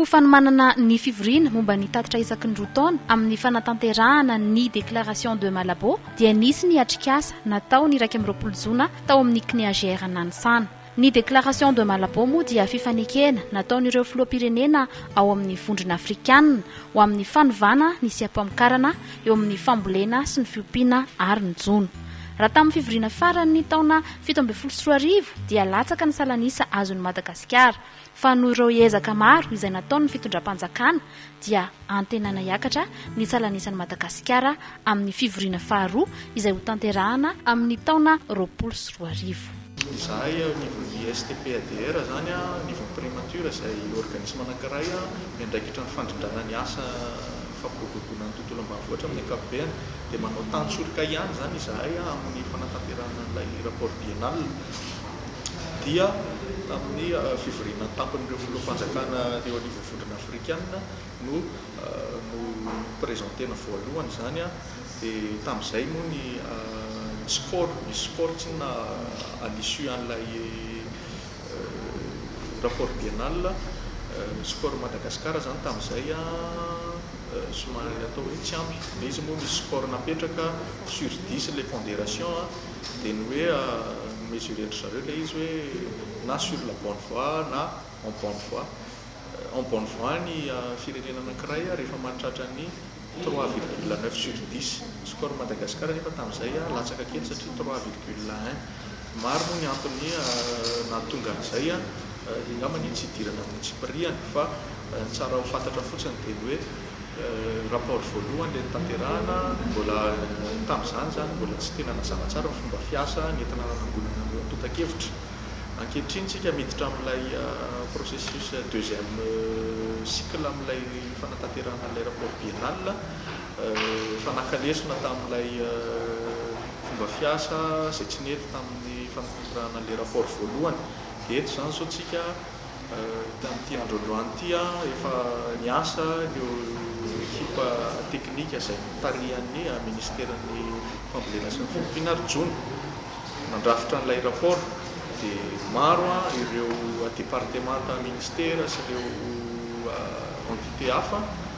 Ho fanomanana ny fivoriana momba ny tatitra isaky ny roa taona amin'ny fanatanterahana ny Déclaration de Malabo dia nisy ny atrikasa natao ny iraika amby roapolo jona tao amin'ny CNIAGR Nanisana. Ny Déclaration de Malabo moa dia fifanekena nataon'ireo filoham-pirenena ao amin'ny Vondrona Afrikana ho amin'ny fanovana ny seha-pamokarana eo amin'ny fambolena sy ny fiompiana ary ny jono. Raha tamin'ny fivoriana farany ny taona fito ambin'ny folo sy roa arivo dia latsaka ny salan'isa azon'i Madagasikara fa noho ireo ezaka maro izay nataon'ny fitondram-panjakana dia antenaina hiakatra ny salan'isan'i Madagasikara amin'ny fivoriana faharoa izay hotanterahana amin'ny taona roapolo sy roa arivo. Izahay ao anivon'ny STP-ADR izany, anivon'ny Primature izay organisme anankiray miandraikitra ny fandrindrana ny asa fampiroboroboana ny tontolo ambanivohitra amin'ny ankapobeny dia manao tantsoroka ihany izany izahay amin'ny fanatanterahana an'ilay rapport biennale. dia tamin'ny fivoriana an-tampon'ireo filoham-panjakana teo anivon'ny Vondrona Afrikana no no-presentena voalohany izany, dia tamin'izay moa ny score, ny score tsy inona à l'issue an'ilay rapport biennal, score Madagascar izany tamin'izay somary atao hoe tsy ampy, dia izy moa misy score napetraka sur dix ilay pondération. dia ny hoe mi-mesurer-ndry zareo ilay izy hoe na sur la bonne voie na en bonne voie. En bonne voie ny firenena anankiray rehefa mahatratra ny trois virgule neuf sur dix. Ny score-n'i Madagasikara anefa tamin'izay latsaka kely satria trois virgule un. Maro moa ny antony nahatonga an'izay, angamba ny tsy hidirana amin'ny tsy mpiriana fa ny tsara ho fantatra fotsiny dia ny hoe, rapport voalohany ilay notanterahana, mbola tamin'izany izany mbola tsy tena nazava tsara ny fomba fiasa nentina nanangonana an'ireo antontan-kevitra. Ankehitriny isika miditra amin'ilay processus deuxième cycle amin'ilay fanatanterahana an'ilay rapport biennal fa naka lesona tamin'ilay fomba fiasa izay tsy nety tamin'ny fanatanterahana an'ilay rapport voalohany dia eto izany izao isika Tamin'ity andro androany ity aho efa niasa ireo ekipa teknika izay notarihan'ny Minisiteran'ny fambolena sy ny fiompiana ary jono nandrafitra an'ilay rapport dia maro ireo departemanta, minisitera sy ireo entité hafa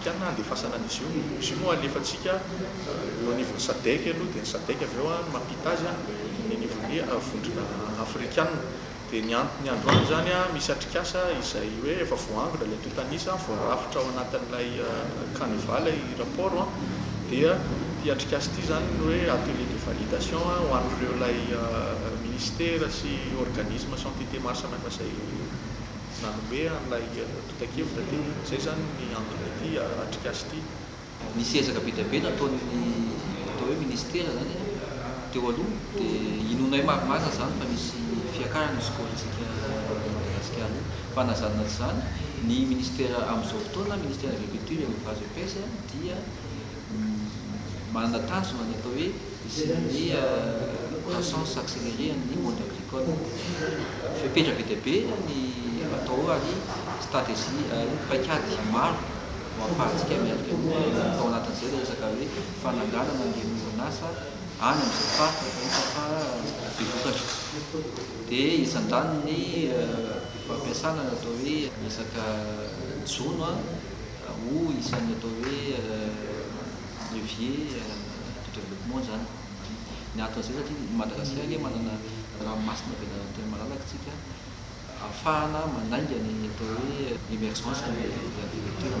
Tiana handefasana an'izy io. Izy io moa alefantsika eo anivon'ny Sadec aloha, dia ny Sadec avy eo no mampita azy eny anivon'ny vondrona afrikana. Dia ny antony androany izany, misy atrikasa izay hoe efa voaangona ilay tontan'isa, voarafitra ao anatin'ilay canevas ilay rapport, dia ity atrikasa ity izany ny hoe atelier de validation ho an'ireo ilay ministera sy organismes sy entités maro samihafa izay nanome an'ilay. Mitan-kevitra ity, izay izany ny antony ity atrikasa ity. Nisy ezaka be dia be nataon'ny atao hoe ministera izany teo aloha dia inoanay maromaro izany fa misy fiakarana io skolintsika i Madagasikara io fa na izany na tsy izany ny ministera amin'izao fotoana, ministera agriculture et elevage et pêche dia manana tanjona ny atao hoe Zénania croissance accélérée an'ny monde agricole. Fepetra be dia be ny atao ao ary stratejia ary paikady maro no ahafahantsika miatrika an'io. Tao anatin'izay ilay resaka hoe fananganana an'ireny orinasa any amin'izay faritra efa hita fa be vokatra. Dia isan'izany ny fampiasana ny atao hoe resaka jono. Ho isan'ny atao hoe levier de développement izany ny antony izay satria i Madagasikara anie manana ranomasina be lalana tena malalaka isika ahafahana manainga ny atao hoe émergence de l'agriculture.